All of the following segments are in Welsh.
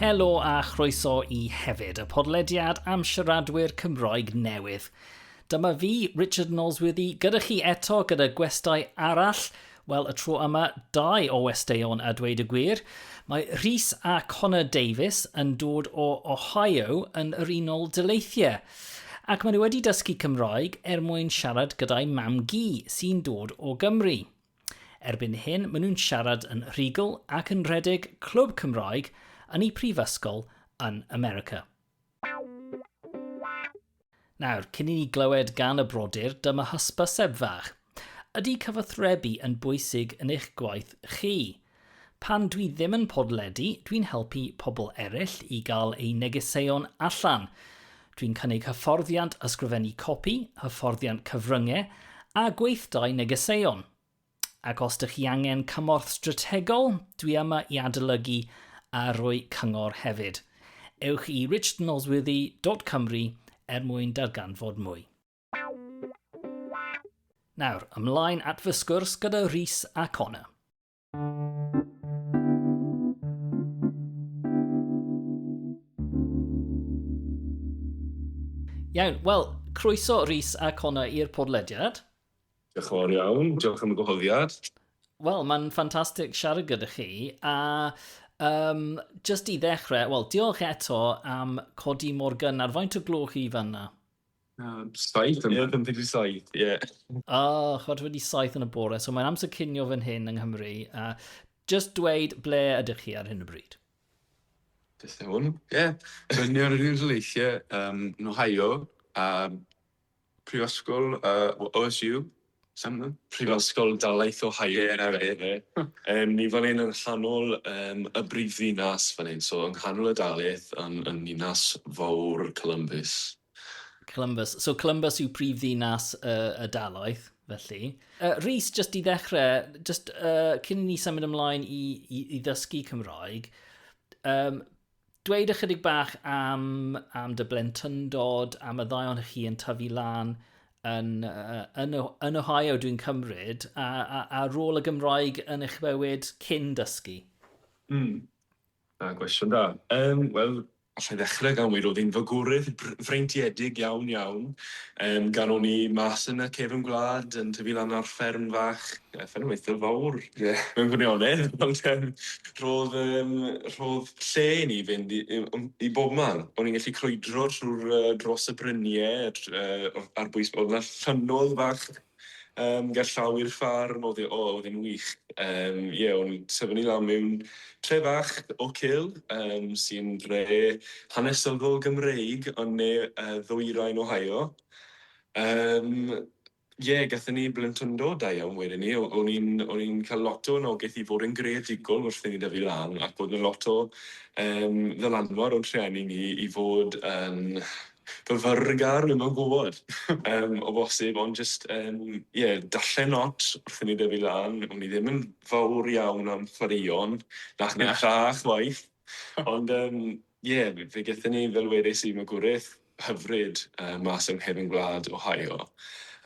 Helo a chroeso i hefyd y podlediad am siaradwyr Cymroeg newydd. Dyma fi, Richard Nosworthy, gyda chi eto gyda gwestai arall. Wel, y tro yma, dau o westeion a dweud y gwir. Mae Rhys a Connor Davies yn dod o Ohio yn yr Unol Dyleithiau. Ac maen nhw wedi dysgu Cymroeg er mwyn siarad gyda'i mam-gu sy'n dod o Gymru. Erbyn hyn maen nhw'n siarad yn rhugl ac yn rhedeg clwb Cymraeg yn eu prifysgol yn America. Nawr, cyn i ni glywed gan y brodyr, dyma hysbyseb fach. Ydy cyfathrebu yn bwysig yn eich gwaith chi? Pan dwi ddim yn podledu, dwi'n helpu pobl eraill i gael eu negeseuon allan. Dwi'n cynnig hyfforddiant ysgrifennu copi, hyfforddiant cyfryngau a gweithdai negeseuon. Ac os dych chi angen cymorth strategol, dwi yma i adolygu a rhoi cyngor hefyd. Ewch i richardnosworthy.cymru er mwyn darganfod mwy. Nawr, ymlaen at fy sgwrs gyda Rhys a Connor. Iawn, wel, croeso Rhys a Connor i'r podlediad. Diolch yn fawr iawn, diolch am y gwahoddiad. Wel, mae'n ffantastig siarad gyda chi, a um, just i ddechrau, wel, diolch eto am codi mor gynnar. Faint o gloch chi fanna? Um, saith yma. Ie, ddim wedi saith, ie. O, chod wedi saith yn y bore, so mae'n amser cynio fan hyn yng Nghymru. A just dweud ble ydych chi ar hyn o bryd. Beth yw hwn? Ie, rydyn ni ar yr Unrhyleithiau um, yn Ohio, a prifysgol uh, OSU, Prifysgol Dalaith Ohio fi'n credu fe. Yym ni fan hyn yn nghanol yym y brifddinas fan hyn, so yng nghanol y Dalaith yn yn ninas fowr Columbus. Columbus. So Columbus yw prifddinas y y Dalaith felly. Yy Rhys jyst i ddechre jyst yy cyn i ni symud ymlaen i i i ddysgu Cymraeg yym Dweud ychydig bach am, am dy blentyndod, am y ddau ohonych chi yn tyfu lan yn, yn, yn Ohio, dwi'n cymryd, a, a, a rôl y Gymraeg yn eich bywyd cyn dysgu? Mm. Da, gwestiwn da. Um, Wel, allai ddechrau gan weud oedd hi'n fagorydd freintiedig iawn iawn. Um, gan o'n i mas yn y cefn gwlad, yn tyfu lan ar fferm fach, Nath e weithio fawr mewn gwirionedd, ond yym rhodd yym rhodd lle i ni fynd i i yym i bobman. O'n i'n gallu crwydro trw'r yy dros y brynie tr- yy o- ar bwys- o'dd 'na ffynnodd fach yym gerllaw i'r ffarm o'dd e o- o'dd e'n wych. Yym ie o'n i'n tyfu ni lan mewn tre fach o cul yym sy'n dre hanesyddol Gymreig yn ne yy ddwyrain Ohio. Yym. Ie, gathon ni blentyndod da iawn wedyn 'ny. O- o'n i'n o'n i'n ca'l lot o anogeth i fod yn greadigol wrth i ni dyfu lan, ac o'dd 'na lot o yym ddylanwad o'n rhieni ni i fod yn fyfyrgar, dwi'm yn gwbod, yym, o bosib, ond jyst yn, ie, darllen lot wrth i ni dyfu lan. O'n i ddim yn fawr iawn am chwaraeon, nath neb dda chwaith, ond yym Ie, fe gethon ni, fel wedes i, magwraeth hyfryd mas yng nghefn gwlad Ohio.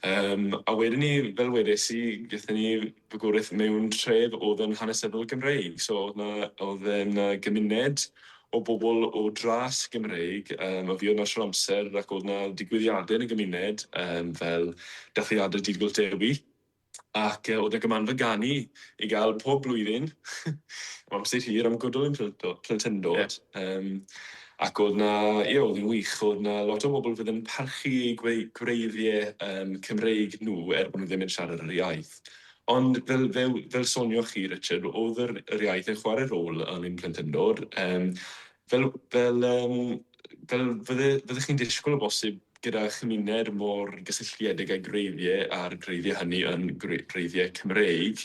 Yym, a wedyn 'ny, fel wedes i, gethon ni fagwraeth mewn tref o'dd yn hanesyddol Gymreig, so o'dd 'na o'dd yym 'na gymuned o bobl o dras Gymreig yym a fuodd 'na shwd o amser ac o'dd 'na digwyddiade yn y gymuned yym fel dathliade Dydd Gwyllt Dewi. ac oedd 'na gymanfa ganu i gael pob blwyddyn am amser hir am gwddw ein plentyndod, yym ac oedd 'na, ie, oedd hi'n wych, oedd 'na lot o bobl fydd yn parchu eu gwreiddiau yym Cymreig nhw er bod nhw ddim yn siarad yr iaith. Ond fel fel fel sonioch chi Richard, oedd yr yr iaith yn chwarae rôl yn ein plentyndod, yym Fel, fel, yym, fel fydde, fyddech chi'n disgwyl o bosib, gyda chymuned mor gysylltiedig â'i gwreiddiau a'r gwreiddiau hynny yn gwreiddiau Cymreig,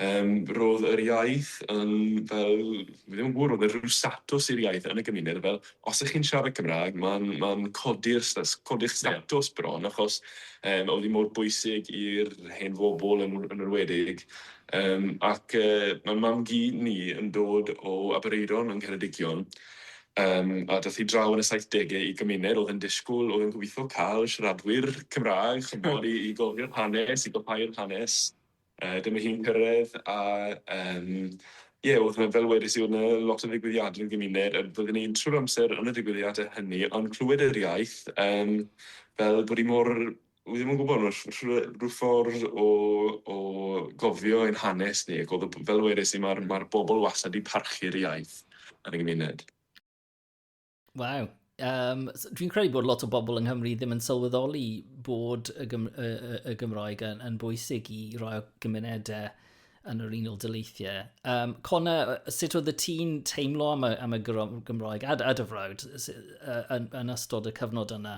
yym, roedd yr iaith yn fel, fi ddim yn gwybod, roedd e rhyw statws i'r iaith yn y gymuned, fel, os ych chi'n siarad Cymraeg, mae'n, mae'n codi'r sta- codi'ch statws bron, achos, yym, oedd hi mor bwysig i'r hen bobl yn, yn enwedig, Yym ac yy ma' mam-gu ni yn dod o Aberaeron yng Ngheredigion yym a dath hi draw yn y saithdege i gymuned o'dd yn dishgwl o'dd yn gobitho ca'l siaradwyr Cymrâg ch'mod i i gofio'r hanes i gwblhau'r hanes yy dyma hi'n cyrredd a yym ie o'dd 'na fel wedes i o'dd 'na lot o ddigwyddiade yn gymuned a byddwn ni'n trw'r amser yn y digwyddiade hynny ond clywed yr iaith yym fel bod 'i mor Wi ddim yn gwybod, mae rh- rhyw ffordd o o gofio ein hanes ni ac oedd y b- fel wedes i ma'r ma'r bobl wastad 'di parchu'r iaith yn y gymuned. Waw. Um, dwi'n credu bod lot o bobl yng Nghymru ddim yn sylweddoli bod y, Gym y, y, y Gymraeg yn, yn bwysig i roi o gymunedau yn yr Unol Dyleithiau. Um, Cona, sut oedd y tî'n teimlo am y, am y Gymraeg a, a dy frawd yn, yn ystod y cyfnod yna?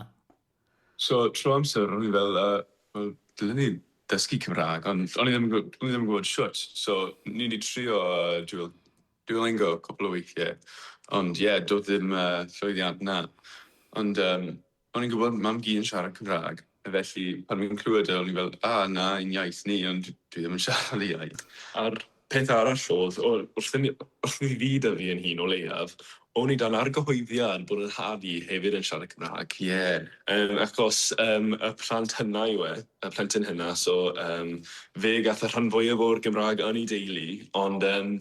So trwy amser o'n i fel yy wel dylen ni dysgu Cymrag ond o'n i ddim yn gw- o'n i ddim yn gwbod shwt so ni 'di trio yy duol- duolingo cwpwl o weithie ond ie do'dd ddim yy llwyddiant 'na ond yym o'n i'n gwbod mam-gu yn siarad Cymrag a felly pan o'n i'n clwed e o'n i fel a na ein iaith ni ond dwi ddim yn siarad y iaith. A'r Peth arall oedd, wrth i mi fyd a fi yn hun o leiaf, o'n i dan argyhoeddiad bod yn nhad i hefyd yn siarad Cymraeg, ie, yym, achos yym y plant hynna yw e, y plentyn hynna, so yym fe gath y rhan fwyaf o'r Gymraeg yn ei deulu, ond yym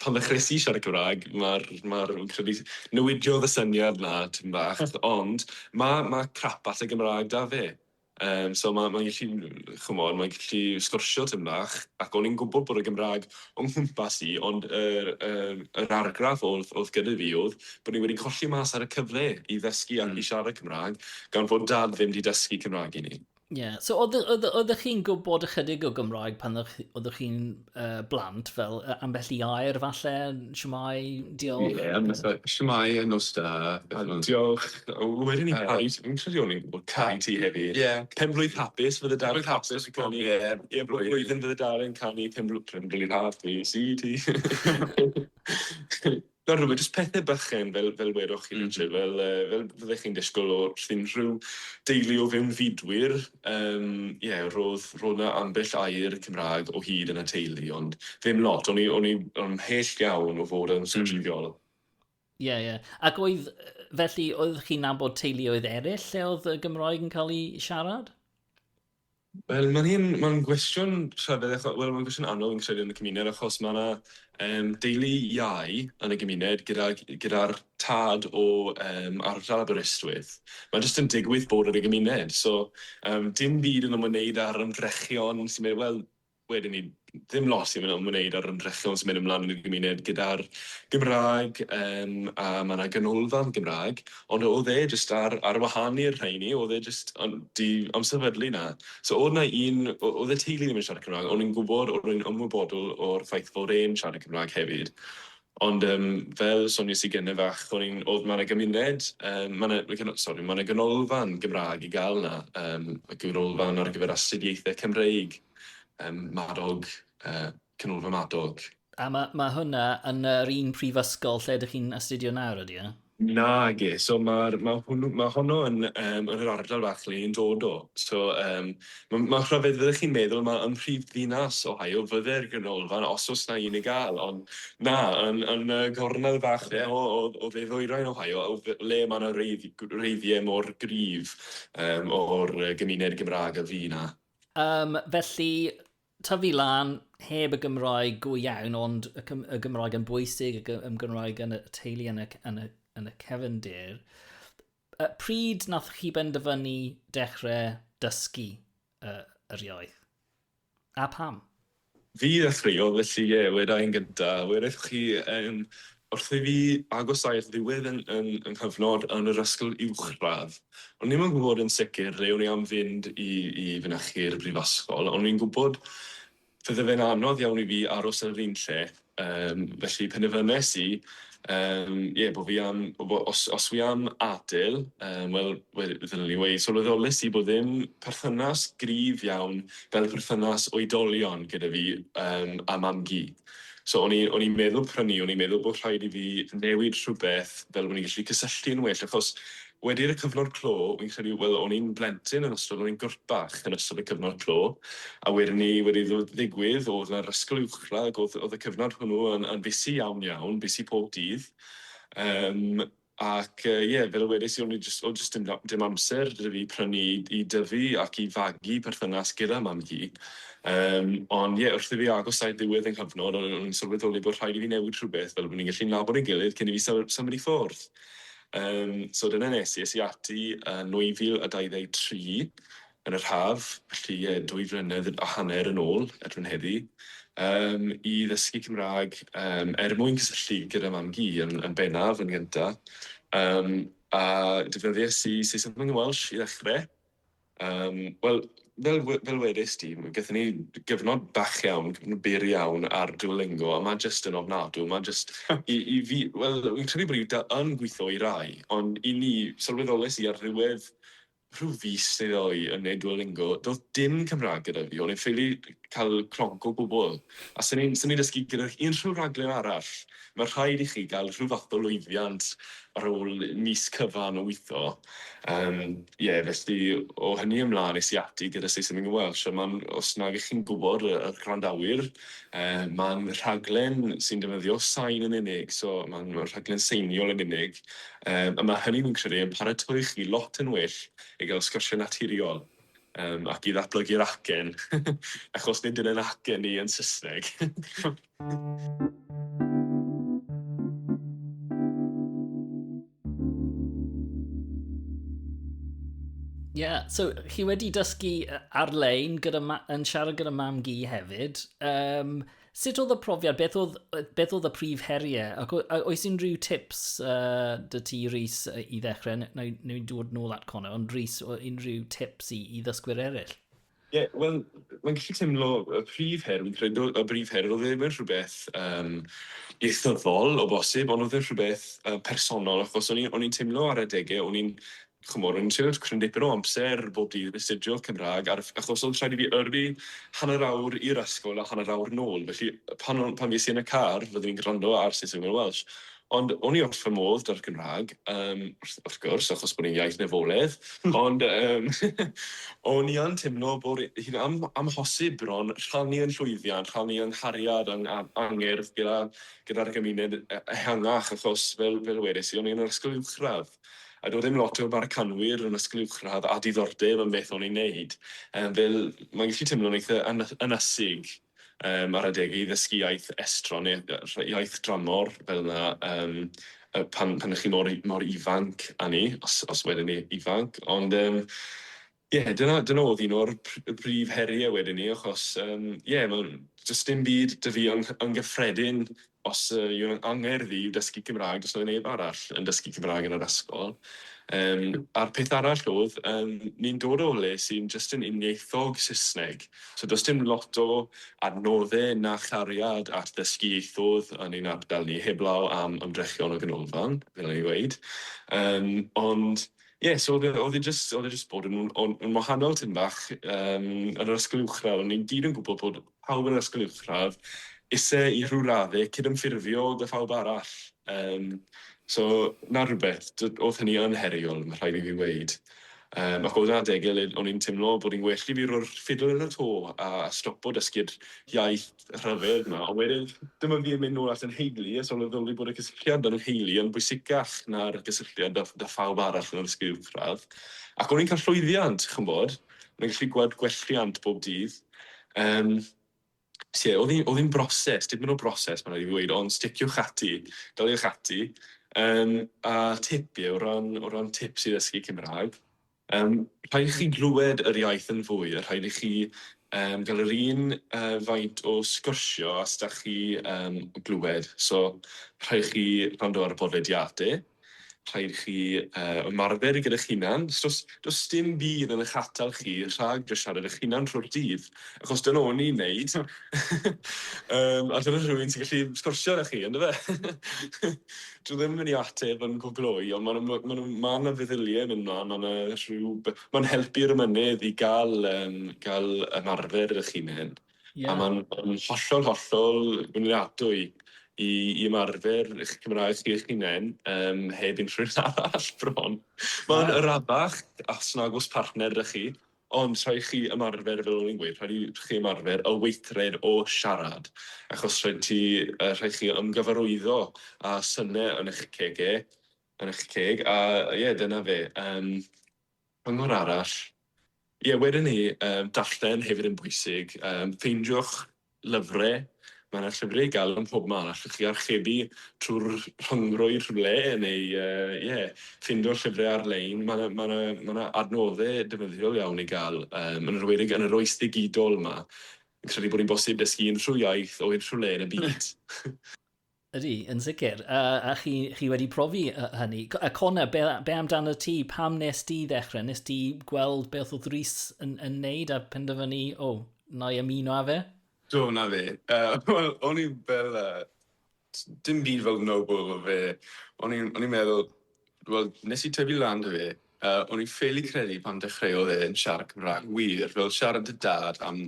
pan ddechreuais i siarad Cymraeg, ma'r, ma'r, fi'n credu, newidiodd y syniad 'na tipyn bach, ond ma' ma' crap at y Gymraeg 'da fe. Yym so ma' mae'n gallu ch'mod mae'n gallu sgwrsio tym bach ac o'n i'n gwbod bod y Gymraeg o nghwmpas i ond yr yym yr argraff o'dd o'dd gyda fi o'dd bo' ni wedi colli mas ar y cyfle i ddysgu ac i siarad Cymraeg gan fod dad ddim 'di dysgu Cymraeg i ni. Ie so o'dd y- o'dd y- oeddech chi'n gwbod ychydig o Gymraeg pan o'ch oeddech chi'n uh, blant, fel uh, ambell i air falle, siwmai, diolch. Ie, yeah, fatha, siwmai, a nos da. Diolch. Wedyn ni caru, fi'n credu o'n i'n gwybod caru ti hefyd. Ie. Yeah. Penblwydd hapus, fydde dal yn hapus i canu. Ie, yeah. yeah, blwyddyn fydde dal yn canu penblwydd hapus i ti. Nawr rhywbeth, jyst pethe bychain fel fel wedoch chi Richard fel yy fel fyddech chi'n disgwyl o sdim rhyw deulu o fewn fudwyr yym ie ro'dd ro'dd 'na ambell air Cymrâg o hyd yn y teulu ond ddim lot o'n i o'n i ymhell iawn o fod yn siciliol. Ie ie ac oedd felly oedd chi'n nabod teuluoedd eryll lle oedd y Gymraeg yn cael ei siarad? Wel ma'n un... ma'n gwestiwn rhyfedd acho- wel ma'n gwestiwn anodd fi'n credu yn y cymuned achos ma' 'na yym deulu iau yn y gymuned gydag gyda'r tad o yym ardal Aberystwyth. Mae jyst yn digwydd bod yn y gymuned so yym dim byd yn ymwneud â'r ymdrechion sy'n mynd wel Wedyn ni, ddim lot sy'n ymwneud â'r ymdrechion sy'n mynd ymlaen yn y gymuned gyda'r Gymraeg, yym, a mae yna ganolfan Gymraeg, ond oedd e jyst ar, ar wahân i'r rheini, oedd e jyst yn di amserfydlu na. So oedd yna un, oedd y teulu ddim yn siarad Cymraeg, o'n i'n gwybod, o'n i'n ymwybodol o'r ffaith fod e'n siarad Cymraeg hefyd, Ond yym fel sonies i gynne fach o'n i'n odd ma' 'na gymuned yym ma' 'na ma' gyn- sori ma' 'na ganolfan Gymrâg i ga'l 'na yym y ganolfan ar gyfer astudiaethe Cymreig yym Madog yy Canolfan Madog. A ma' ma' hwnna yn yr un prifysgol lle dych chi'n astudio nawr ydy e? Nage, so ma'r ma' hwnnw ma' honno yn yym yn yr ardal fach le i'n dod o. So yym ma' ma'n rhyfedd fyddech chi'n meddwl ma' ym mhrif ddinas Ohio fydde'r ganolfan os o's na un i ga'l ond na yn yn y gornel fach ie o o o dde ddwyrain Ohio o f- le ma' na reidd- g- reiddie mor gryf yym o'r yy gymuned Gymrâg a fu na. Yym felly tyfu lan heb y Gymraeg go iawn, ond y, y Gymraeg yn bwysig, y, y Gymraeg yn y teulu, yn y, yn y, yn y cefndir. Uh, pryd nath chi benderfynu dechrau dysgu uh, yr iaith? A pam? Fi ddechreuodd, felly ie, yeah, weda i'n gynta. Weda chi yn Wrth i fi agosau'r ddiwedd yn fy nghyfnod yn yr ysgol uwchradd, o'n i ddim yn gwybod yn sicr le o'n i am fynd i i fynychu'r brifysgol, ond o'n i'n gwybod fydde fe'n anodd iawn i fi aros yn yr un lle, yym, felly penderfynes i, yym, ie, bo' fi am, bo- os os wi am adael, yym, wel, we- ddylwn i weud, sylweddolais i bod ddim perthynas gryf iawn fel perthynas oedolion gyda fi, yym, a mam-gu. So o'n i, o'n i'n meddwl prynu, o'n i'n meddwl bod rhaid i fi newid rhywbeth fel o'n i'n gallu cysylltu yn well, achos wedi i'r cyfnod clo, fi'n credu, wel, o'n i'n blentyn yn ystod, o'n i'n gwrt bach yn ystod y cyfnod clo, a wedyn ni wedi iddo ddigwydd, o'dd yna'r ysgol uwchradd, o'dd o'dd y cyfnod hwnnw yn yn busy iawn iawn, busy pob dydd, yym, Ac ie, fel y wedais i, o'n i jyst, o'dd jyst dim amser 'da fi prynu i dyfu ac i fagu perthynas gyda mam-gu. Yym, ond ie, wrth i fi agos at ddiwedd yng nghyfnod, o'n i'n sylweddoli bod rhaid i fi newid rhywbeth, fel bo' ni'n gallu nabod ein gilydd cyn i fi syl- symud i ffwrdd. Yym, so dyna nes i. Es i ati yn 2023, yn yr haf, felly ie, dwy flynedd a hanner yn ôl erbyn heddi, yym, i ddysgu Cymraeg, yym, er mwyn cysylltu gyda mam-gu yn, yn bennaf, yn gynta. Yym, a defnyddies i Saesneg yn Welsh i ddechrau. Yym, wel, fel, fel wedis di, gyda ni gyfnod bach iawn, gyfnod byr iawn ar Duolingo, a mae jyst yn ofnadw, mae jyst, i, i fi, wel, fi'n credu bod i yn gweithio i rai, ond i ni, sylweddolais i ar ddiwedd Rhyw fis neu ddoi yn neud Duolingo, do'dd dim Cymraeg gyda fi, o'n i'n ffili cael clonc o gwbl, a swn i'n swn i'n dysgu gyda unrhyw raglen arall, ma' rhaid i chi gael rhyw fath o lwyddiant ar ôl mis cyfan o witho. Yym, ie, felly o hynny ymlan es i ati gyda Saesneg yn Welsh, a ma'n, os nag 'ych chi'n gwbod, y y gwrandawyr, yy, ma'n rhaglen sy'n defnyddio sain yn unig, so ma'n ma'n rhaglen seiniol yn unig. Yym a ma' hynny fi'n credu yn paratoi chi lot yn well i gael sgyrsiau naturiol yym ac i ddatblygu'r acen achos nid yn ein acen ni yn Saesneg. Ie, so chi wedi dysgu ar-lein gyda ma- yn siarad gyda mam-gu hefyd. Yym... Sut oedd y profiad? Beth oedd, beth oedd y prif heriau? Ac oes unrhyw tips uh, dy ti, Rhys, i ddechrau? Neu, neu dod nôl at Connor, ond Rhys, unrhyw tips i, i ddysgwyr eraill? Ie, yeah, wel, mae'n gallu teimlo y prif her, fi'n credu y prif her, oedd e ddim yn rhywbeth um, ieithyddol o bosib, ond oedd e rhywbeth uh, personol, achos o'n i'n teimlo ar adegau, o'n i'n Chymor yn siarad cryn dipyn o amser bob dydd astudio Cymraeg ar achos oedd rhaid i fi yrru hanner awr i'r ysgol a hanner awr nôl felly pan o'n pan fues i yn y car roeddwn i'n gwrando ar Saesneg neu Welsh ond o'n i wrth fy modd da'r Gymraeg yym wrth wrth gwrs achos bod e'n iaith nefoledd ond yym o'n i yn timlo bod hi'n am- amhosib bron rhannu yn llwyddiant rhannu yng nghariad yng a- angerdd gyda gyda'r gymuned e- ehangach achos fel fel wedes i o'n i yn yr ysgol uwchradd. A doedd ddim lot o Americanwyr yn ysgol uwchradd â diddordeb yn beth o'n i'n neud. Fel, mae'n gallu teimlo'n eitha ynysig ar adegau i ddysgu iaith estron neu iaith dramor fel 'na pan 'ych chi mor ifanc â ni, os wedyn ni ifanc. Ond, Ie, dyna, dyna oedd un o'r pr- brif heriau wedyn 'ny, achos yym ie, ma' does dim byd 'da fi yn yn gyffredin os yy yw e'n angerdd i dysgu Cymraeg, does 'na neb arall yn dysgu Cymraeg yn yr ysgol. Yym a'r peth arall oedd yym ni'n dod o le sy'n jyst yn uniaethog Saesneg, so does dim lot o adnodde na chariad at ddysgu ieithoedd yn ein ardal ni, heblaw am ymdrechion y ganolfan, fel o'n i'n weud. Yym ond Ie, so oedd e, oedd e jyst, oedd e jyst bod yn, yn, yn wahanol tyn bach um, yn yr ysgol uwchradd. O'n i'n gyd yn gwybod bod pawb yn yr ysgol uwchradd ise i rhyw raddau cydymffurfio dy phawb arall. Um, so, na rhywbeth, oedd hynny yn heriol, mae rhaid i fi weid. Um, ac oedd adeg gilydd, o'n i'n teimlo bod i'n well i fi roi'r ffidl yn y to a stopo dysgu'r iaith rhyfedd 'ma, ond wedyn dyma fi yn mynd nôl at 'yn nheulu a sylweddoli bod y cysylltiad 'da 'yn nheulu yn bwysicach na'r gysylltiad 'da 'da phawb arall yn yr ysgol uwchradd, ac o'n i'n cael llwyddiant, ch'mbod, o'n i'n gallu gweld gwelliant bob dydd, yym, lle o'dd 'i'n o'dd 'i'n broses, dipyn o broses ma' raid i fi weud, ond sticiwch ati, daliwch ati, yym, a tip ie, o ran o ran tips i ddysgu Cymrâg, Yym, rhaid i chi glywed yr iaith yn fwy, a rhaid i chi yym gael yr un yy faint o sgwrsio a 'stach chi yn glywed. So, rhaid i chi wrando ar y podlediade, rhaid i chi yy ymarfer gyda 'ch hunan. Do's do's do's dim byd yn 'ych atal chi rhag jyst siarad 'ych hunan trwy'r dydd. Achos dyna o'n i'n neud. Yym, a dyna rhywun sy'n gallu sgwrsio 'da chi, yndyfe? Dwi ddim yn mynd i ateb yn gwblhwy, ond ma' 'na ma' 'na ma' 'na feddylie yn yna, ma' 'na rhyw be- ma'n helpu'r ymennydd i ga'l yym ga'l ymarfer 'ych hunen. Ie. A ma'n ma'n hollol hollol gwnliadwy i i ymarfer 'ych Cymraeg chi 'ych hunen yym heb unrhyw un arall bron. Ma'n arafach os nag o's partner 'da chi, Ond rhaid chi ymarfer fel o'n i'n gweud, rhaid i chi ymarfer y weithred o siarad, achos rhaid ti, yy rhaid chi ymgyfarwyddo â syne yn eich cege, yn eich ceg, a ie, dyna fe. Yym, cyngor arall, ie, wedyn 'ny, yym, darllen hefyd yn bwysig, yym, ffeindiwch Llyfrau, Mae yna llyfrau i gael ym mhob man, allwch chi archebu trwy'r rhyngrwyd rhywle, neu ie, ffindo llyfrau ar-lein. Mae yna, mae yna, mae yna adnoddau defnyddiol iawn i gael, yn enwedig yn yr oes ddigidol 'ma. Fi'n credu bod hi'n bosib dysgu unrhyw iaith o unrhyw le yn y byd. Ydy, yn sicr. A, a chi, chi wedi profi hynny. A Connor, be, be amdano ti? Pam nes di ddechrau? Nes ti gweld beth oedd Rhys yn, yn neud a penderfynu, o, oh, na i ymuno â fe? Do, na fe. Uh, Wel, o'n i'n fel... Uh, dim byd fel noble o fe. O'n i'n meddwl, wel, nes i tyfu lan dy fe, uh, o'n i'n ffeili credu pan dechreuodd e yn siarad Cymraeg wir, fel siarad dy dad am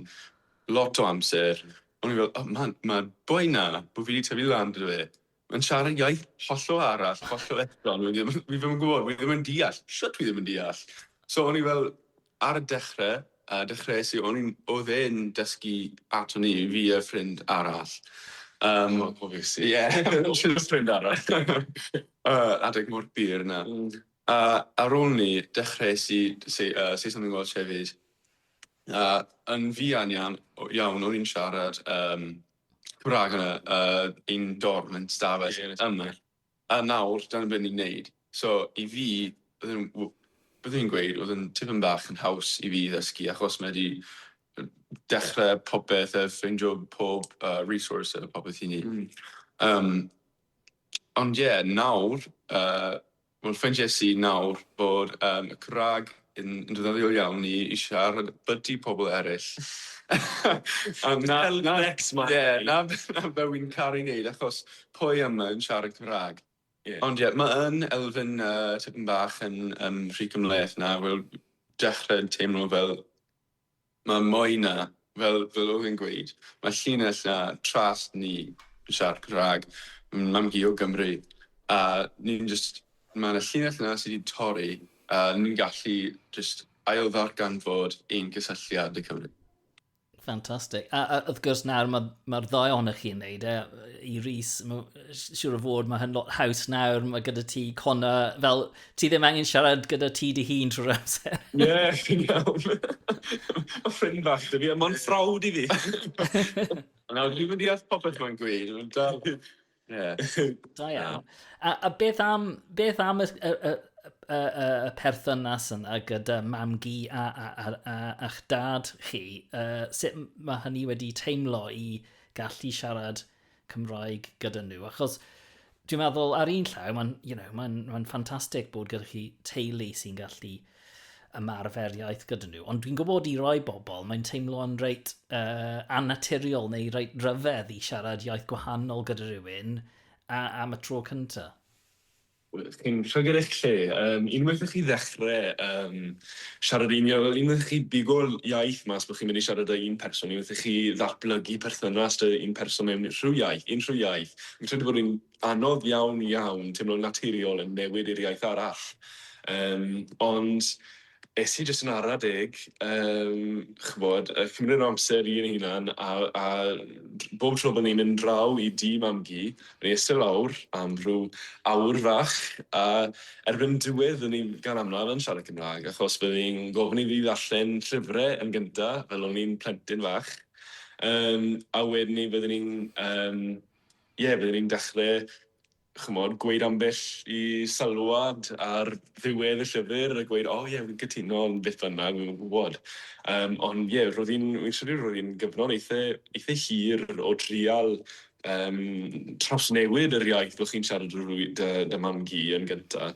Lot o amser, o'n i fel, o, man, ma'r boi 'na, bo' fi 'di tyfu lan gyda fe, ma'n siarad iaith hollol arall, hollol estron, wi ddim, fi ddim yn gwbod, wi ddim yn deall, shwt wi ddim yn deall? So o'n i fel, ar y dechre, yy, dechrees i, o'n i'n, o'dd e'n dysgu ato ni, fi a ffrind arall. Um, O, cofies i. Ie, shwt ffrind arall. uh, adeg mor bur na. Mm. Uh, ar ôl ni, dechrees i say, uh, say something Welsh hefyd. Na, yn fuan iawn, iawn o'n i'n siarad um, Cymraeg yn uh, un dorm yn stafell yeah, yma. A nawr, dyna beth ni'n neud. So, i fi, byddwn i'n gweud, oedd yn tipyn bach yn haws i fi ddysgu, achos mae wedi dechrau popeth a ffeindio pob uh, resource a popeth i ni. Mm. Um, ond ie, yeah, nawr, uh, Wel, ffeindiais i nawr bod y Cymraeg yn ddefnyddiol iawn i siarad byti pobl eraill. Na be wy'n caru neud achos pwy yma yn siarad Cymraeg? Ond ie, mae yn elfen tipyn bach yn rhy cymhleth nawr, wel, dechre teimlo fel Mae Moina, fel fel oedd e'n gweud, mae llinell a tras ni yn siarad Cymraeg, mae'n mam hi o Gymru, a ni'n jyst, mae yna llinell yna sydd wedi torri, a ni'n gallu jyst ailddarganfod ein cysylltiad â Cymru. Ffantastig. A, a wrth gwrs nawr mae'r ma ddau ohonoch chi'n neud e, i Rhys, siwr o fod mae hyn lot haws nawr, mae gyda ti Connor, fel Ti ddim angen siarad gyda ti dy hun trwy'r amser. Ie, chi'n iawn. Mae ffrind fach 'da fi, ond mae'n frawd i fi. Nawr, dwi'm yn deall popeth mae'n gweud, ond dal, ie. Da iawn. A, a beth am, beth am y, y, y, y, y perthynas yna gyda mam-gu a, a, a, a, a'ch dad chi? Uh, sut mae hynny wedi teimlo i gallu siarad Cymraeg gyda nhw, achos dwi'n meddwl ar un llaw, mae'n you know, ma ma ffantastig bod gyda chi teulu sy'n gallu ymarfer iaith gyda nhw, ond dwi'n gwybod i roi bobl, mae'n teimlo'n reit uh, annaturiol neu reit ryfedd i siarad iaith gwahanol gyda rhywun a, am y tro cyntaf. Chi'n llygad eich lle. Yym, unwaith i chi ddechre yym siarad un iaith, wel unwaith i chi bigo iaith mas bo' chi'n mynd i siarad â un person, unwaith i chi ddatblygu perthynas 'da un person mewn rhyw iaith, unrhyw iaith, fi'n credu bod e'n anodd iawn iawn timlo'n naturiol yn newid i'r iaith arall. Yym, ond Es i jyst yn ara deg, yym, ch'mod, a cymryd yr amser i yn hunan, a a bob tro bod ni'n mynd draw i dŷ Mam-gu, o'n i'n iste lawr am rhyw awr fach, a erbyn diwedd o'n i gan amlaf yn siarad Cymraeg, achos bydden i'n gofyn iddi ddarllen llyfre yn gynta, fel o'n i'n plentyn fach, yym, a wedyn 'ny bydden i'n, yym, ie, bydden i'n dechre ch'mod, gweud ambell i sylwad ar ddiwedd y llyfr a gweud, 'O ie, fi'n cytuno' ond beth bynnag, fi'm yn gwybod. Yym, ond ie, roedd hi'n, fi'n credu roedd hi'n gyfnod eitha, eitha hir o drial um, trawsnewid yr iaith bod chi'n siarad â rwy- dy, dy mam-gu yn gynta.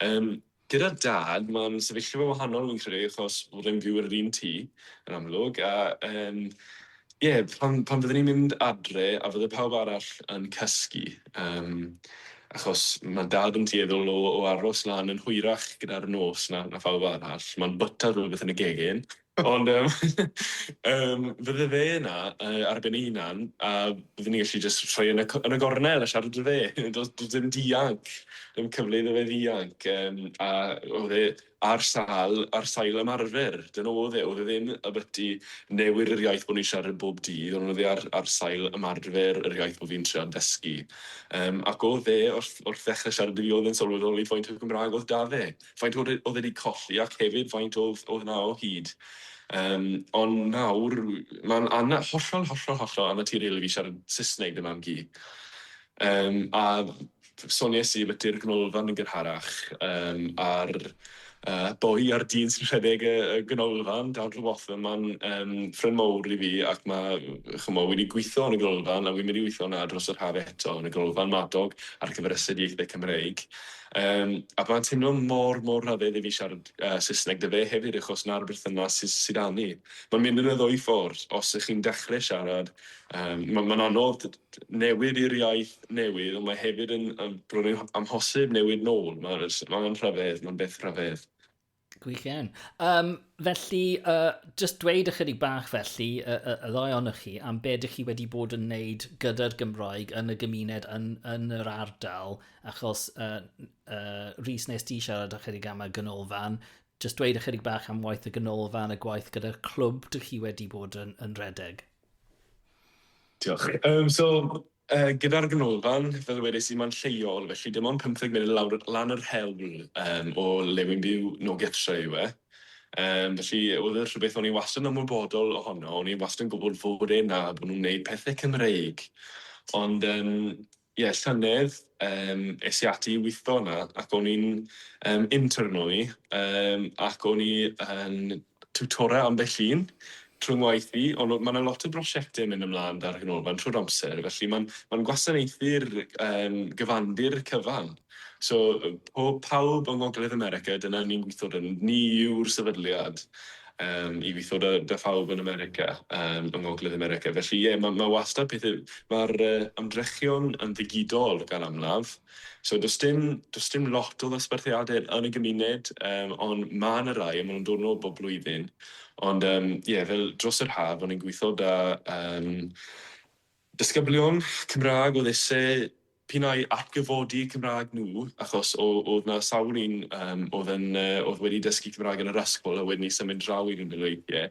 Um, Gyda Dad, mae'n sefyllfa wahanol fi'n credu, achos fod e'n byw yn yr un tŷ, yn amlwg, a yym ie, pan pan fydden ni'n mynd adre a fydde pawb arall yn cysgu, yym achos ma' Dad yn dueddol o o aros lan yn hwyrach gyda'r nos na na phawb arall, mae'n bwyta rhywbeth yn y gegin, Ond yym yym fydde fe yna yy ar ben ei hunan a bydden ni'n gallu jyst rhoi e yn y c- yn y gornel a siarad 'da fe. Do's do's dim dianc, dim cyfle iddo fe ddianc yym a o'dd e ar sâl ar sail ymarfer, dyna o'dd e, o'dd e ddim ymbyti newid yr iaith bo' ni'n siarad yn bob dydd ond o'dd e ar ar sail ymarfer yr iaith bo' fi'n treial dysgu. Yym ac o'dd e wrth wrth ddechre siarad 'da fi o'dd e'n sylweddoli faint o Gymra'g o'dd 'da fe. faint oedd e oedd e 'di colli ac hefyd faint oedd oedd 'na o hyd. Yym, ond nawr mae'n ana- hollol, hollol, hollol anaturiol i fi siarad Saesneg dy mam-gu. Yym, a sonies i ymbiti'r ganolfan yn gynharach, yym, a'r yy boi a'r dyn sy'n rhedeg y y ganolfan, Dan Rhiwatham, ma'n yym ffrind mowr i fi ac ma' ch'mo' wedi gwitho yn y ganolfan a wi'n mynd i witho 'na dros yr haf eto yn y ganolfan Madog ar gyfer astudiaethe Cymreig. Yym, a mae'n teimlo mor, mor rhyfedd i fi siarad yy Saesneg 'da fe hefyd achos 'na'r berthynas sy sy 'da ni. Mae'n mynd yn y ddwy ffordd, os 'ych chi'n dechre siarad, yym, ma' ma'n anodd t- t- newid i'r iaith newydd, ond mae hefyd yn yn bron yn amhosib newid nôl, ma' s- ma'n rhyfedd, ma'n beth rhyfedd. Gwych iawn. Um, felly, uh, just dweud ychydig bach felly, y, y, y ddoi ohonoch chi, am be ydych chi wedi bod yn wneud gyda'r Gymraeg yn y gymuned, yn, yn yr ardal, achos uh, uh, Rhys nes di siarad ychydig am y gynolfan, just dweud ychydig bach am waith y gynolfan, y gwaith gyda'r clwb dych chi wedi bod yn, yn redeg. Diolch. Um, so, Gyda'r ganolfan, fel ddwedais i, mae'n lleol, felly dim ond pymtheg munud lawr lan yr hewl o le wi'n byw, nôl gytre yw e. Felly, oedd e rhywbeth o'n i wastad yn ymwybodol ohono, o'n i wastad yn gwybod fod e 'na, bod nhw'n wneud pethe Cymreig. Ond yym ie, llynedd yym es i ati i witho yna ac o'n i'n yym intern o'n i yym ac o'n i yn tiwtora ambell un trwy 'ngwaith i, ond mae 'na lot o brosiectau yn mynd ymlaen 'da'r Ganolfan trwy'r amser, felly mae'n mae'n gwasanaethu'r yym gyfandir cyfan. So, po- pawb yng Ngogledd America, dyna ni'n gweithio 'da nhw, ni yw'r sefydliad yym i weithio 'da 'da phawb yn America, yym yng Ngogledd America, felly ie, mae mae wastad pethau... Mae'r yy ymdrechion yn ddigidol gan amlaf. So does dim, does dim lot o ddosbarthiadau yn y gymuned, um, ond mae yna rai, a maen nhw'n dod nôl bob blwyddyn. Ond um, yeah, fel dros yr haf, o'n i'n gweithio da um, disgyblion Cymraeg oedd eisiau p'un ai atgyfodi Cymraeg nhw, achos oedd na sawl un um, oedd, yn, uh, oedd wedi dysgu Cymraeg yn yr ysgol a wedyn i symud draw i Gymru weithiau.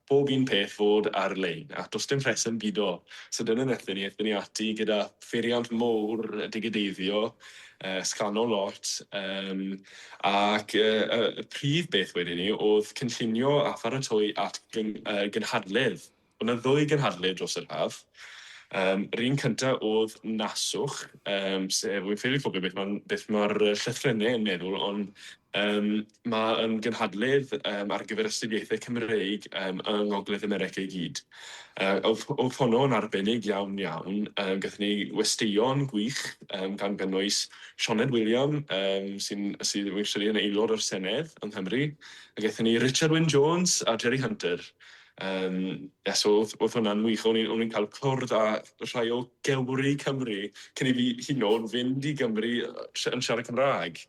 bob un peth fod ar lein ac does dim rheswm bido sydyn yn erbyn ni, aethon ni ati gyda pheiriant mowr digideiddio, sgano lot yym ac y prif beth wedyn ni oedd cynllunio a pharatoi at gynhadledd, oedd yna ddwy gynhadledd dros yr haf, yr un cynta oedd Naswch yym sef, wi'n ffili cofio beth mae'r llythrennau yn meddwl ond, Yym, mae yn gynhadledd yym ar gyfer astudiaethau Cymreig yym yng Ngogledd America i gyd. Yy o'dd o'dd honno yn arbennig iawn iawn, yym gathon ni westeion gwych yym gan gynnwys Sioned William yym sy'n sydd yn aelod o'r Senedd yng Nghymru, a gaethon ni Richard Wyn Jones a Jerry Hunter. Yym ie so o'dd o'dd hwnna'n wych o'n i'n o'n i'n ca'l cwrdd â rhai o Gymry Cymru cyn i fi hyd yn o'd fynd i Gymru yy sh- yn siarad Cymra'g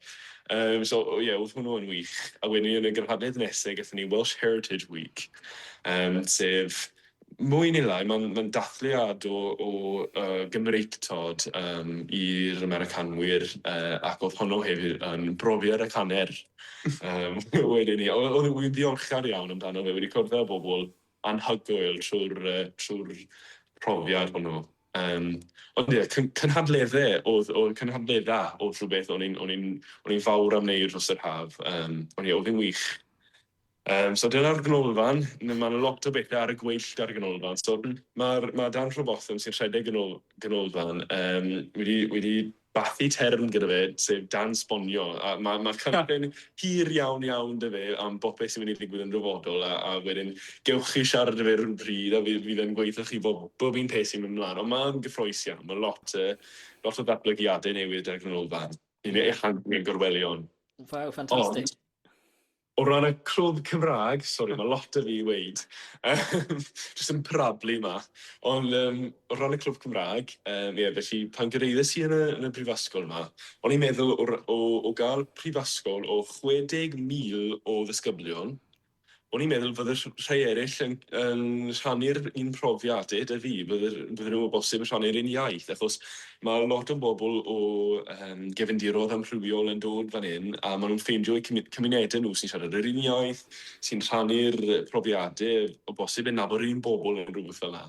yym so o ie o'dd hwnnw yn wych a wedyn yn y gynhadledd nese gethon ni Welsh Heritage Week yym sef mwy ne' lai ma'n ma'n dathliad o o yy Gymreictod yym i'r Americanwyr yy ac o'dd honno hefyd yn brofiad ac anner Yym, wedyn ni, o- o'n i'n ddiolchgar iawn amdano fe, wedi cwrdd â bobl anhygoel trwy'r yy trwy'r profiad hwnnw. Yym, ond ie, cyn- cynhadledde o'dd o'dd cynhadledda o'dd rhwbeth o'n i'n o'n i'n o'n i'n fawr am neud dros yr haf, yym, ond ie, o'dd e'n wych. Yym so dyna'r ganolfan, ma' ma' 'na lot o bethe ar y gweill 'da'r ganolfan so ma'r ma' Dan Rhywbotham sy'n rhedeg ganol- ganolfan yym wedi wedi bathu term gyda fe sef Dan Sbonio a ma' ma' cynllun hir iawn iawn 'da fe am bopeth sy'n mynd i ddigwydd yn dyfodol a a wedyn gewch chi siarad 'da fe ryw bryd a fe fydd e'n gweud 'tho chi bob bob un peth sy'n mynd mlan on' ma'n gyffrous iawn ma' lot yy lot o ddatblygiade newydd 'da'r ganolfan i ni ehangu ein gorwelion. Waw ffantastig. Ond O ran y clwb Cymraeg, sori mae lot 'da fi i weud, jyst yn parablu 'ma, ond yym o ran y clwb Cymraeg, yym ie felly pan gyrhaeddes i yn y yn y brifysgol 'ma, o'n i'n meddwl o o o gael prifysgol o 60,000 o ddisgyblion, o'n i'n meddwl fydde rh- rhai eraill yn yn rhannu'r un profiadau 'da fi, bydde bydde nhw o bosib yn rhannu'r un iaith, achos Mae lot o bobl o gefndiroedd amrywiol yn dod fan hyn a maen nhw'n ffeindio eu cymunedau nhw sy'n siarad yr un iaith, sy'n rhannu'r profiadau, o bosib yn nabod yr un bobl neu rhywbeth fel 'na,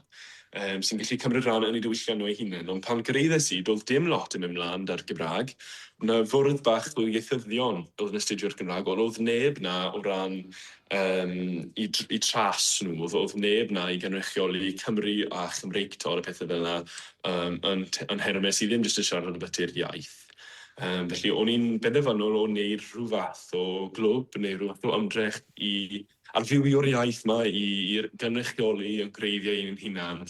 sy'n gallu cymryd rhan yn eu diwylliant nhw eu hunain. Ond pan gyraeddes i, doedd dim lot yn mynd 'mlaen 'da'r Gymraeg. Oedd 'na fwrdd bach o ieithyddion oedd yn astudio'r Gymraeg ond oedd neb 'na o ran Yym, i tr- i tras nhw, o'dd o'dd neb 'na i gynrychioli Cymru a Chymreictod a pethe fel 'na yym yn t- yn Herwnes sy ddim jyst yn siarad ambyti'r iaith. Yym, felly o'n i'n benderfynol o wneud rhyw fath o glwb neu rhyw fath o ymdrech i arfywio'r iaith 'ma, i i r- gynrychioli a gwreiddio ein hunan.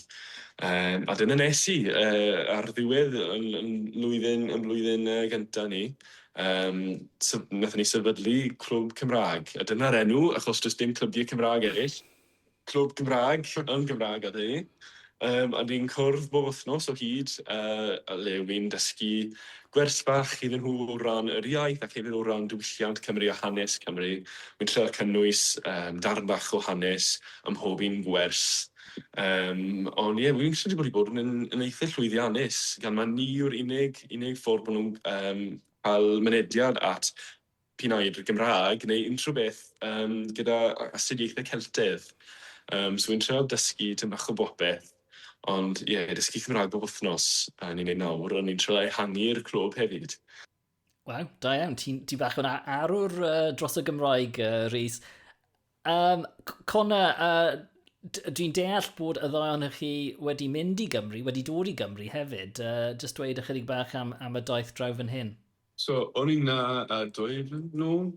Yym, a dyna nes i yy ar ddiwedd 'yn 'yn mlwyddyn 'yn mlwyddyn yy gynta' ni. Yym, so wnaethon ni sefydlu Clwb Cymraeg, a dyna'r enw, achos does dim clybiau Cymraeg eraill. Clwb Cymraeg yn Gymraeg oedd hynny. Um, a ni'n cwrdd bob wythnos o hyd, uh, a le wy'n dysgu gwers bach iddyn nhw o ran yr iaith ac hefyd o ran diwylliant Cymru a hanes Cymru. Wy'n trio cynnwys um, darn bach o hanes ym mhob un gwers. Yym, ond ie, wi'n credu bod hi bod yn yn eitha llwyddiannus, gan mae ni yw'r unig unig ffordd bod nhw'n um, cael mynediad at p'un ai i'r Gymraeg neu unrhyw beth um, gyda astudiaethau Celtedd. Um, so wi'n treol dysgu tyn bach o bopeth, ond ie, yeah, dysgu Cymraeg bob wythnos, a ni'n ei nawr, ond ni'n treol ehangu'r clwb hefyd. Waw, da iawn. Ti'n ti bach o'n arwr uh, dros y Gymraeg, uh, Rhys. Um, Cona, uh, dwi'n deall bod y ddau ohonych chi wedi mynd i Gymru, wedi dod i Gymru hefyd. Uh, just dweud ychydig bach am, am y daith draw fan hyn. So, o'n i'n na uh, dwy flynedd nôl,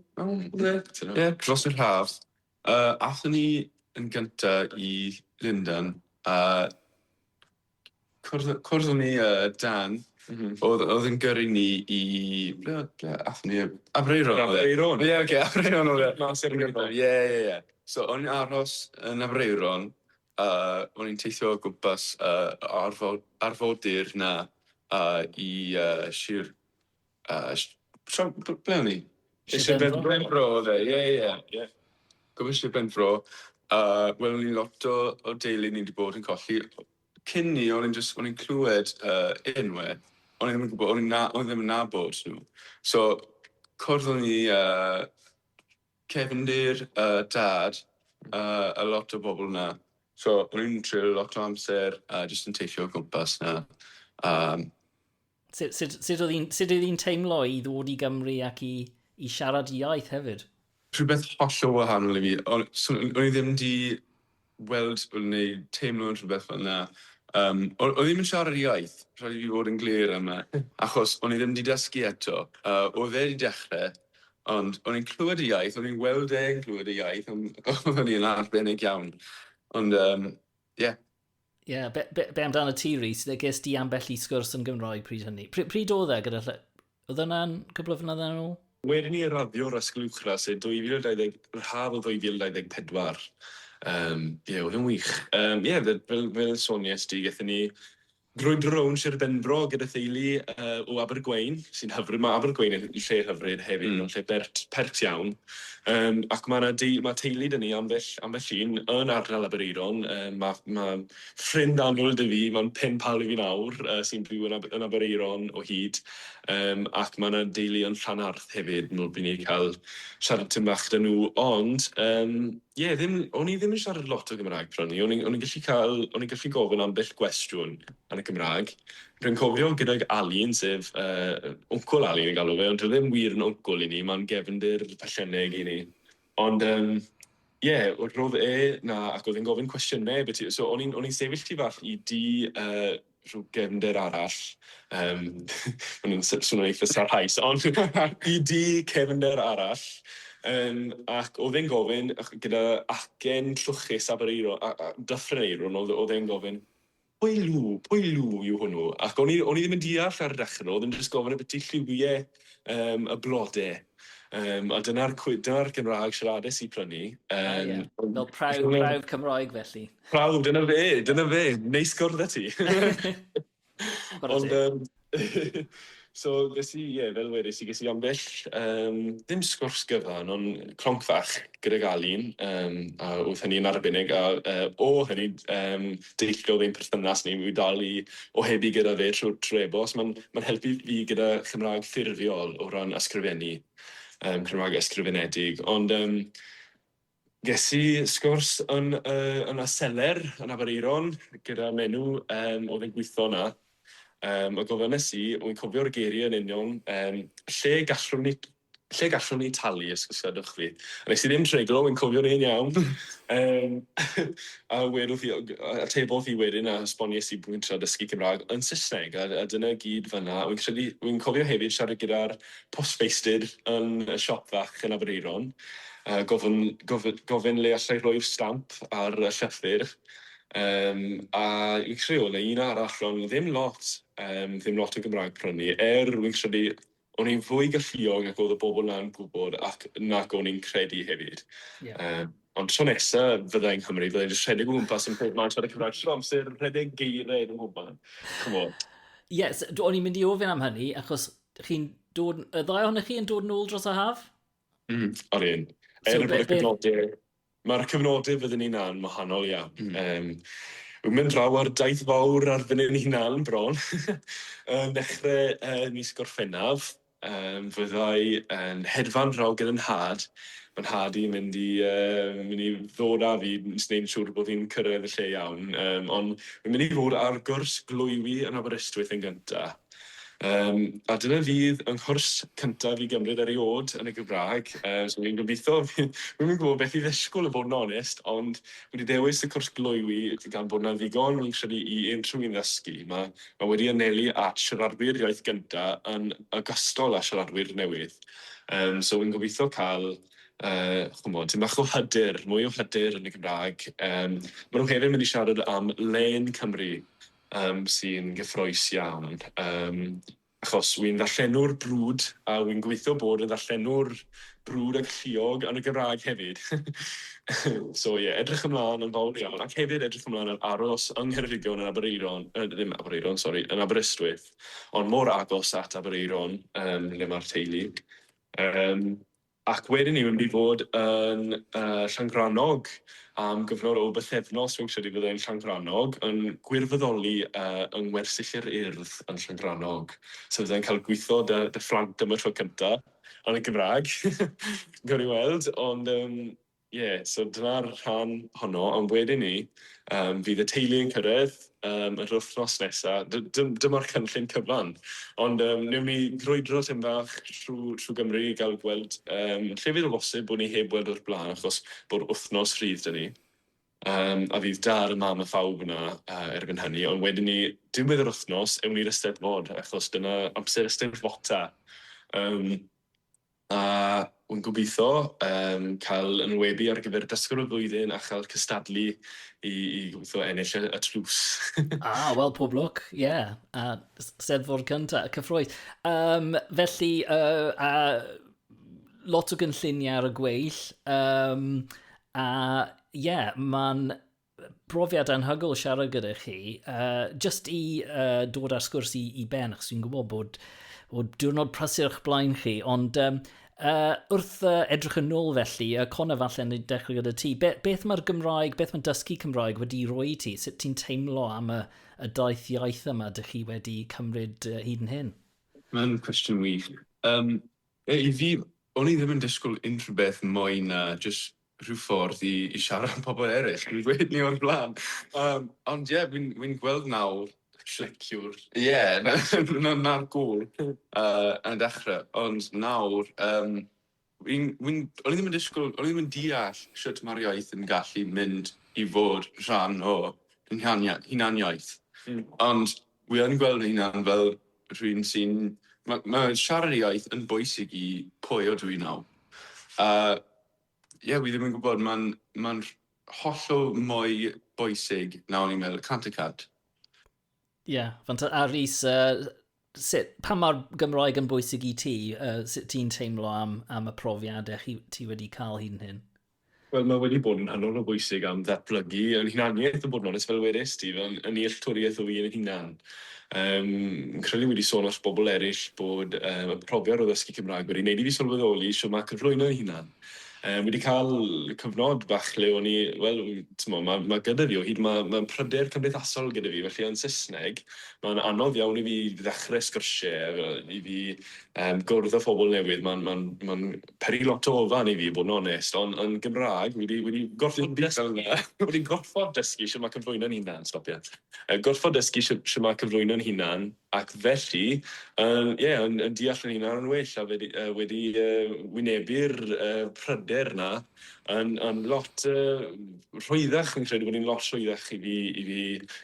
yeah, dros yr haf. Uh, athyn ni yn gyntaf i Lundan, a uh, cwrdd, cwrdd o'n ni uh, Dan, mm -hmm. oedd, oedd yn gyrru ni i... Ble, ble athyn ni? Afreiron. Afreiron. Ie, yeah, oce, okay, Afreiron oedd e. Mas i'r Ie, ie, ie. So, o'n i'n aros yn Afreiron, uh, o'n i'n teithio o gwmpas uh, arfod, arfodir na uh, i uh, Sir A sh- shwm b- ble o'n i? Sir Sir Benfro? Benfro Benfro o'dd e ie ie ie. Gobeithio Sir Benfro a wel o'n i lot o o deulu ni 'di bod yn colli o- cyn 'ny o'n i'n jyst o'n i'n clwed yy enwe o'n i ddim yn gwbo o'n i'n na- o'n i ddim yn nabod nw. So cwrdd o'n i a cefndir a dad a a lot o bobol 'na so o'n i'n treulio lot o amser a jyst yn teithio o gwmpas 'na a Sut, sut, sut oedd hi'n sut oedd hi'n teimlo i ddod i Gymru ac i, i siarad y iaith hefyd? Rhywbeth hollol wahanol i fi. O'n, so, o'n i ddim di weld neu teimlo rhywbeth fel yna. Um, o'n, o'n i ddim yn siarad y iaith, rhaid i fi fod yn glir yma, achos o'n i ddim di dysgu eto. Uh, oedd e di dechrau, ond o'n i'n clywed y iaith, o'n i'n weld e'n clywed y iaith, ond o'n i'n arbennig iawn. Ond, um, ie. Yeah. Ie, yeah, be, be, be amdano ti, Rhys? Ges di ambell i sgwrs yn Gymroeg pryd hynny. Pryd, pryd oedd e gyda lle? Oedd yna'n cwbl o fynyddoedd yn ôl? Wedyn i radio'r Ysgol Uwchradd, sef 2020, yr haf o 2024. Um, ie, yeah, oedd yn wych. Um, ie, yeah, fel, fel, fel sonies di, gethon ni drwy drown Sir Benfro gyda theulu uh, o Abergwein, sy'n hyfryd. Mae Abergwein yn lle hyfryd hefyd, mm. lle bert, pert iawn. Yym ac ma' 'na deu- ma' teulu 'da ni ambell ambell un yn ardal Aberaeron yym ma' ma' ffrind annwyl 'da fi ma'n pen pal i fi nawr yy sy'n byw yn Ab- yn Aberaeron o hyd yym ac ma' 'na deulu yn Llanarth hefyd m'wl by' ni ca'l siarad tym bach 'da nhw ond yym ie ddim o'n i ddim yn siarad lot o Gymraeg pry' o'n i o'n i'n o'n i'n gallu ca'l o'n i'n gallu gofyn ambell gwestiwn yn y Gymrag Rwy'n cofio gydag Alun, sef, yy, wncwl Alun yn galw fe, ond dyw e ddim wir yn wncwl i ni, mae'n gefndir pellenneg i ni. Ond, yym, ie, roedd e 'na ac oedd e'n gofyn cwestiynau imbyti, so o'n i'n o'n i'n sefyll tu fach i dŷ, yy, rhyw gefndir arall, yym, ma' hwn yn s- swnio'n eitha' sarhaus, ond i dŷ cefndir arall, yym, ac oedd e'n gofyn, gyda acen trwchus a bereiro- a a dyffryn eirw, oedd oedd e'n gofyn, Pwy lw, pwy lw yw hwnnw? Ac o'n i, o'n i ddim yn deall ar y dechrau, oedd e'n jyst gofyn ambiti lliwiau um, y blodau. Um, a dyna'r dyna Gymraeg siaradus i prynu. Um, ah, yeah. Fel prawf, prawf Cymroeg felly. Prawf, dyna fe, dyna fe. Neis gwrdd â ti. Ond, um, so ges i, ie, fel wedes i, ges i ambell, um, ddim sgwrs gyfan, ond cronc fach gydag Alun, um, a oedd hynny'n arbennig, a uh, o hynny, um, deilliodd ein perthynas ni, mi dal i ohebu gyda fe trwy'r trebos, mae'n ma helpu fi gyda Chymraeg ffurfiol o ran ysgrifennu, um, Cymraeg ysgrifenedig, ond um, Ges i sgwrs yn y yn y seler yn Aberaeron gyda menyw yym oedd yn gweithio yna yym a gofynes i, wi'n cofio'r geirie yn union yym lle gallwn ni lle gallwn ni talu os os gadwch fi. A nes i ddim treglo, wi'n cofio'n hen iawn yym a wedodd hi yy atebodd hi wedyn a esbonies i bo' fi'n trio dysgu Cymra'g yn Sysneg a a dyna gyd fan 'na. Wi'n credu wi'n cofio hefyd siarad gyda'r postfeistr yn y siop fach yn Aberaeron, gofyn, gofyn, gofyn le allai rhoi'r stamp ar y llythyr, um, a fi'n credu oedd 'na un arall, ond ddim lot, um, ddim lot o Gymraeg prynu, er fi'n credu o'n i'n fwy galluog ac oedd y bobl na'n gwybod ac nac o'n i'n credu hefyd. Yeah. Um, ond tro nesa fydda i'n Cymru, fydda i'n just rhedeg o gwmpas yn pob man siarad Cymraeg trwy amser, rhedeg geiriau yn y mwban. Come on. Yes, o'n i'n mynd i ofyn am hynny, achos chi'n dod, y ddau ohonych chi yn dod yn ôl dros y haf? Mm, ar un. So, er bod y cyfnodau, mae'r cyfnodau fyddwn ni'n an wahanol iawn. Mm. Um, Wy'n mynd draw ar daith fawr ar fyny ni hunan bron. yn dechrau uh, mis Gorffennaf, um, fyddai yn hedfan draw gyda nhad. Mae nhad i'n mynd i, uh, mynd i ddod â fi, nes wneud siŵr bod fi'n cyrraedd y lle iawn. Um, ond mae'n mynd i fod ar gwrs glwywi yn Aberystwyth yn gyntaf. Yym a dyna fydd yng nghwrs cyntaf i gymryd eriôd yn y Gymraeg, yy so fi'n gobeithio fi wi'm yn gwbod beth i ddisgwl i fod yn onest ond fi 'di dewis y cwrs gloywi gan bod 'na ddigon fi'n credu i unrhyw un ddysgu, ma' ma' wedi anelu at siaradwyr iaith gynta yn ogystal â siaradwyr newydd yym so fi'n gobeithio ca'l yy ch'mod tym bach o hyder, mwy o hyder yn y Gymraeg, yym ma' nhw hefyd mynd i siarad am len Cymru Yym sy'n gyffroes iawn yym achos wi'n ddarllenwr brwd a wi'n gobeithio bod yn ddarllenwr brwd a galluog yn y Gymraeg hefyd so ie edrych ymlaen yn fawr iawn ac hefyd edrych ymlaen ar aros yng Ngheredigion yn Aberaeron yy ddim Aberaeron sori yn Aberystwyth ond mor agos at Aberaeron yym lle ma'r teulu yym Ac wedyn ni, wi'n mynd i fod yn Llangrannog am gyfnod o bythefnos, fi'n credu fydda i'n Llangrannog, yn gwirfoddoli yng Ngwersyll yr Urdd yn Llangrannog. So fydda i'n cael gwitho 'da phlant am y tro cynta', yn y Gymraeg, gawn ni weld, ond yym Ie, so dyna'r rhan honno, ond wedyn 'ny yym fydd y teulu yn cyrraedd yym yr wythnos nesa', dy- dym- dyma'r cynllun cyfan. Ond yym newn ni grwydro tym bach trw trw Gymru i ga'l gweld yym lle fydd o bosib bo' ni heb weld o'r bla'n achos bo'r wythnos rhydd 'da ni. Yym a fydd dad a mam a phawb yna yy erbyn hynny, ond wedyn 'ny diwedd yr wythnos ewn ni'r Eisteddfod achos dyna amser Eisteddfota. Yym. A wi'n gobeithio yym cael yn wynebu ar gyfer dysgwr y flwyddyn a chael cystadlu i i gobeithio ennill y y tlws. Ah, wel pob lwc, ie. A s- Steddfod cynta, cyffrous. Yym, felly, yy, a lot o gynlluniau ar y gweill, yym, a ie, ma'n brofiad anhygol siarad gyda chi, uh, just i uh, dod ar sgwrs i, i ben, achos dwi'n gwybod bod, bod diwrnod prysur o'ch blaen chi, ond um, uh, wrth uh, edrych yn ôl felly, uh, Cona falle yn dechrau gyda ti, Be, beth mae'r Gymraeg, beth mae dysgu Cymraeg wedi roi i ti? Sut ti'n teimlo am y, y daith iaith yma dych chi wedi cymryd uh, hyd yn hyn? Mae'n cwestiwn wych. Um, I fi, o'n i ddim yn disgwyl unrhyw beth mwy na just rhyw ffordd i i siarad am pobl eryll, dwi'n gweud ni o'r blaen. Yym ond ie fi'n fi'n gweld nawr cleciwr. Ie na na na'r gŵr yy yn y dechre ond nawr yym fi'n fi'n o'n i ddim yn disgwl o'n i ddim yn deall shwt ma'r iaith yn gallu mynd i fod rhan o ein hania- hunaniaeth. Hmm. Ond wi yn gweld fy hunan fel rhywun sy'n ma' ma' siarad y iaith yn bwysig i pwy ydw i nawr a ie, fi ddim yn gwybod, mae'n ma hollol mwy bwysig na o'n i'n meddwl, cant y cant. Ie, yeah, fanta, a Rhys, uh, sut, pa mae'r Gymroeg yn bwysig i ti? Uh, sut ti'n teimlo am, am y profiadau chi, ti wedi cael hyn hyn? Wel, mae wedi bod yn hynod o bwysig am ddatblygu yn hunaniaeth y bod yn onest fel wedys ti, fel yn nealltwriaeth o fi yn hunan. Fi'n credu fi wedi sôn wrth bobl eraill bod y profiad o ddysgu Cymraeg wedi wneud i fi sylweddoli shwt mae cyflwyno ei hunan. Fi wedi cael cyfnod bach le o'n i, wel, timod, mae ma gyda fi o hyd, mae ma pryder cymdeithasol gyda fi, felly yn Saesneg mae'n anodd iawn i fi ddechrau sgyrsiau, i fi um, gwrdd â phobl newydd, mae'n ma ma peri lot o ofan i fi, bod yn onest, ond yn Gymraeg wedi, wedi gorfod dysgu, wedi gorfod dysgu shwt mae cyflwyno'n hunan, stop ie. yn gorfod dysgu shwt shwt mae cyflwyno'n hunan ac felly yn ie yn yn deall yn hunan yn well a wedi yy wedi yy wynebu'r yy pryder 'na yn yn lot yy rhwyddach fi'n credu bod hi'n lot rhwyddach i fi i fi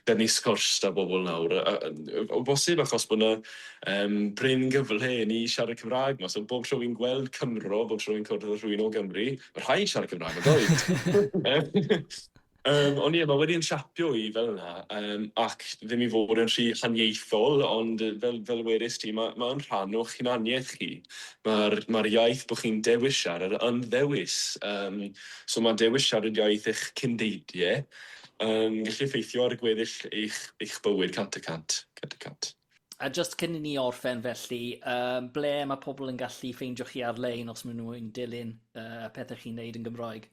bennu sgwrs 'da bobl nawr a- a- yy o bosib achos bod 'na yym prin gyfle i ni siarad Cymraeg 'ma so bob tro fi'n gweld Cymro bob tro fi'n cwrdd â rhywun o Gymru ma' rhaid siarad Cymraeg on'd oes? Yym, ond ie, mae wedi yn siapio i fel yna, yym, ac ddim i fod yn rhy haniaethol, ond fel, fel wedest ti, mae, mae yn rhan o'ch hunaniaeth chi. Mae'r, mae'r iaith bod chi'n dewis siarad yn ddewis, yym, so mae dewis siarad iaith eich cyn-deidie yn gallu effeithio ar gweddill eich, eich bywyd cant y cant, cant y cant. A just cyn i ni orffen felly, um, ble mae pobl yn gallu ffeindio chi ar-lein os maen nhw'n dilyn uh, pethau chi'n neud yn Gymroeg?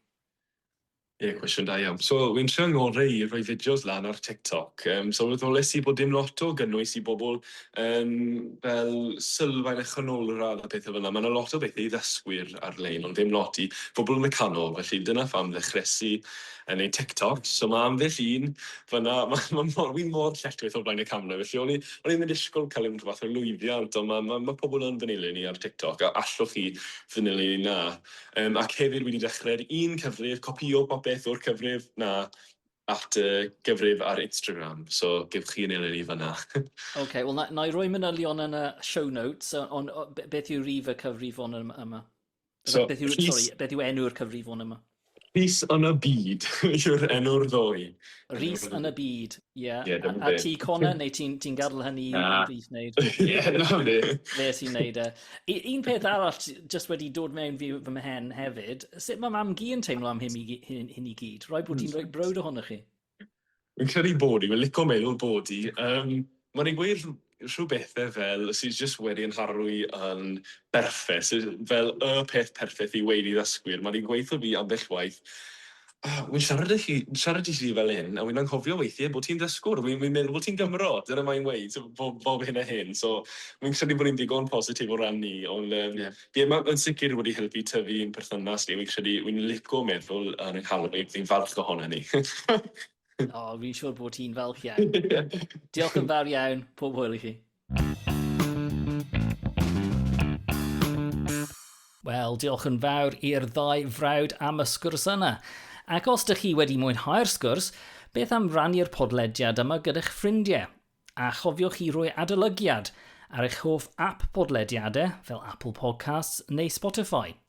Ie, cwestiwn da iawn. So, fi'n trio ngorau i rhoi fideos lan ar TikTok. Yym, sylweddolais i bod dim lot o gynnwys i bobl, yym, fel sylfaen a chanolradd a pethau fel 'na. Ma' 'na lot o bethe i ddysgwyr ar-lein, ond ddim lot i bobl yn y canol, felly dyna pham ddechreues i yy neud TikToks. So ma' ambell un fan 'na, ma' ma' mor... wi mor lletchwith o flaen y camera, felly o'n i o'n i ddim yn disgwl cael unrhyw fath o lwyddiant, ond ma' ma' ma' pobl yn fy nilyn i ar TikTok, a allwch chi fy nilyn i 'na. Yym ac hefyd wedi dechrau'r un cyfrif, copïo popeth o'r cyfrif 'na at y gyfrif ar Instagram, so gewch chi ein eleni fan'na. Ocê, wel 'na 'na i roi manylion yn y show notes yy ond o- be- beth yw rif y cyfrifon ym- yma? So, beth yw Rhys- sori beth yw enw'r cyfrifon yma? Rhys yn y Byd yw'r enw'r ddwy. Rhys yn y Byd. Ie, yeah. yeah, a, a ti Connor, neu ti'n ti gadw hynny i Ddydd wneud? Ie, na hwnni. Fe sy'n wneud e. Un peth arall, jyst wedi dod mewn fi fy mhen hefyd, sut mae mam gi yn teimlo am hyn i, hyn, hyn i gyd? Rhoi bod ti'n rhoi brwyd ohono chi? Yn credu bod i, mae'n lico meddwl bod i. Um, mae'n ei gweud rhyw bethe fel sy jyst wedi 'yn harlwy yn berffeth, sy fel y peth perffeth i weud i ddysgwyr, ma' 'di gweutho fi ambell waith, O, wi'n siarad â chi, siarad i ti fel hyn, a wi'n anghofio weithie bo' ti'n ddysgwr, wi'n wi'n meddwl bo' ti'n Gymro, dyna mae'n weud, so bo- bob hyn a hyn, so wi'n credu bod e'n ddigon positif o ran 'ny, ond yym Ie. ie, ma' yn sicr wedi helpu tyfu i'n perthynas ni, wi'n credu, wi'n lico meddwl yn 'yn nghalon i, fi'n falch ohonon ni. O, fi'n siŵr bod ti'n falch iawn. Diolch yn fawr iawn, pob hwyl i chi. Wel, diolch yn fawr i'r ddau frawd am y sgwrs yna. Ac os ydych chi wedi mwynhau'r sgwrs, beth am rannu'r podlediad yma gyda'ch ffrindiau? A chofiwch chi roi adolygiad ar eich hoff app podlediadau fel Apple Podcasts neu Spotify.